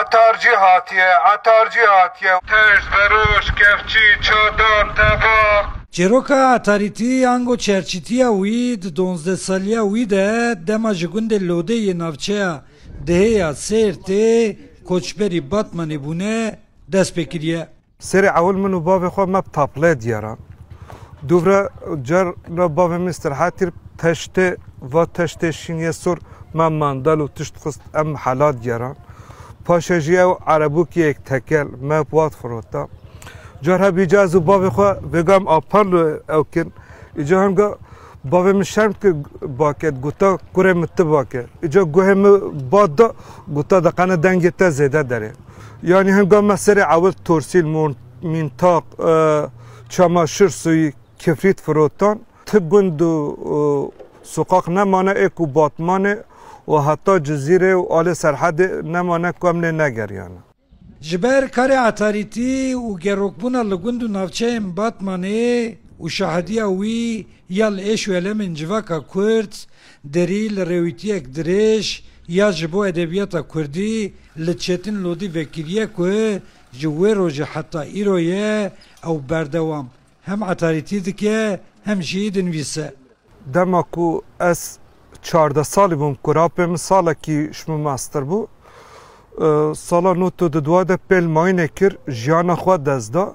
Etar cî hatiye, etar cî hatiye. Ters, veroş, kevçî, çadan, tevax. Çîroka Etarîtî ango çerçîtîya wî di donzdeh salîya wî de dema ji gundê Lodê yê navçeya Dihê ya Sêrtê koçberî Batmanê bûne dest pê kirîye. Serê ewil min û bavê xwe me bi tapleyê diyaran. Dûvre car re bavê min îstirahet kir bi teştê va teştê şîn yê sor me mandal û tişt xist em bi hela diyaran. Paşê jî ew erebûkiyek tekel me bi wat firota. Car heb îcar ez û bavê xwe vêgam apallo ew kin. Îcar hemga bavê min şerm kir baket gota kurê min ti bake. Îcar guhê min bat da gota deqene dengê te zêde derê. Yanî hinga me serê ewil torsîl, mîntaq, çamaşir sûyî, kifrît firotan, ti gund û soqaq nemane ê ku Batmanê û heta Cizîrê û alê Serhedê nemane ku em lê negeriyane. Ji ber karê etarîtî û gerokbûna li gund û navçeyên Batmanê û şahidîya wî ya li êş û elemên civaka Kurd, Derî li rêwîtiyek dirêj ya ji bo edebiyata kurdî li Çetin Lodî vekiriye ku ji wê rojê heta îro ye ew berdewam hem etarîtî dike hem jî dinivîse. Dema ku ez çardeh salî bûm ku rapê min salekî ji min master bû. Sala nût û di dua de pêl mayînê kir, jiyana xwe dest da.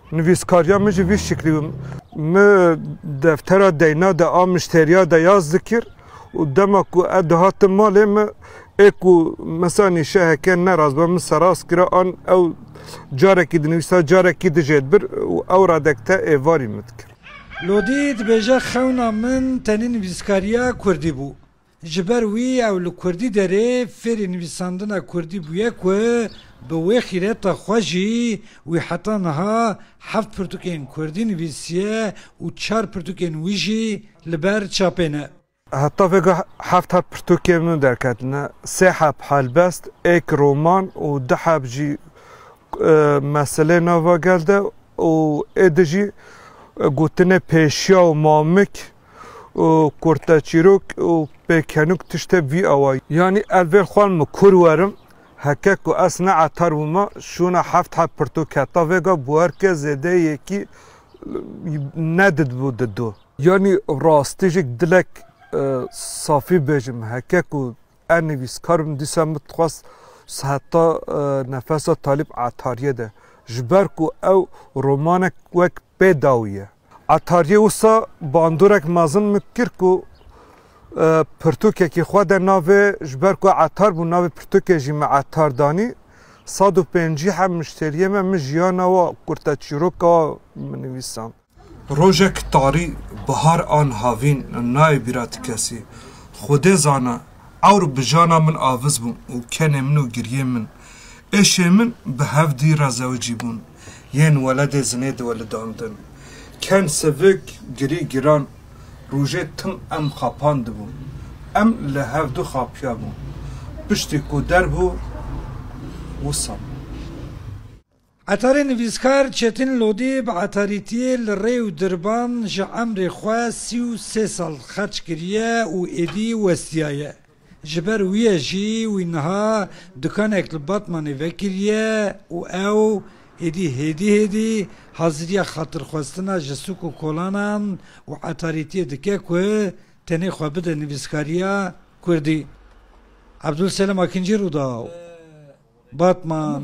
Nivîskariya min jî vî şiklî bû. Mi deftera deyna de a muşteriya de ya zikir û dema ku ev dihatin malê min ê ku mesela nîşeheke neraz be min seraz kira an ew carekî dinivîsa carekî dijê dibir û ew radek te êvarî min dikir. Lodî dibêje xewna min tenê nivîskariya kurdî bû. Ji ber wî ew li Kurdî derê fêrî nivîsandina Kurdî bûye ku bi wê xîreta xwe jî wî heta niha heft pirtûkên Kurdî nivîsiye û çar pirtûkên wî jî li ber çapê ne. Heta vêga heft heb pirtûkên min derketine, sê heb helbest, êk roman û du heb jî meseleyên nava gel de û êdî jî gotinê pêşiya û mamik û kurte çîrok û pêkenûk tiştê vî awa ye. Yanî ez vê xwan min kur werim, heke ku ez ne etar bûma şûna heft heb pirtûk keta vêga bûerke zêdeyê yekî ne didbû didu. Yanî rastî jî dilek safî bêjim heke ku ez nivîskar bim dîsa min dixwest heta nefesa talîb etariyê de ji ber ku ew romanek wek Pê dawî ye. Etaryê wisa bandorek mezin min kir ku pirtûkekî xwe de navê ji ber ku etar bû navê pirtûkê jî me etar danî. Sed û pêncî heb muşteriyê me min jiyana we kurte çîroka we min nivîsand. Rojek tarî bihar an havîn nayê bîra ti kesî. Xwedê zana ewr bi jana min aviz bû û kenê min û giriyên min, êşên min bi hevdî re zewicî bûn. yên weledê zinê diwelidandin. Ken sivik girî giran rojê tim em xapandibû. Em li hevdu xapiyabû. Piştî ku derbû wisa bû. Etarê nivîskar Çetin Lodî bi etarîtiyê li rê û dirban ji emrê xwe sî û sê sal xerç kiriye û êdî westiyaye. Ji ber wî ye jî wî niha dikanek li Batmanê vekiriye û ew êdî hêdî hêdî haziriya xatirxwestina ji sûk û kolanan û etarîtiyê dike ku tenê xwe bide nivîskariya kurdî. Ebdulselam Akincî Rûdaw, Batman.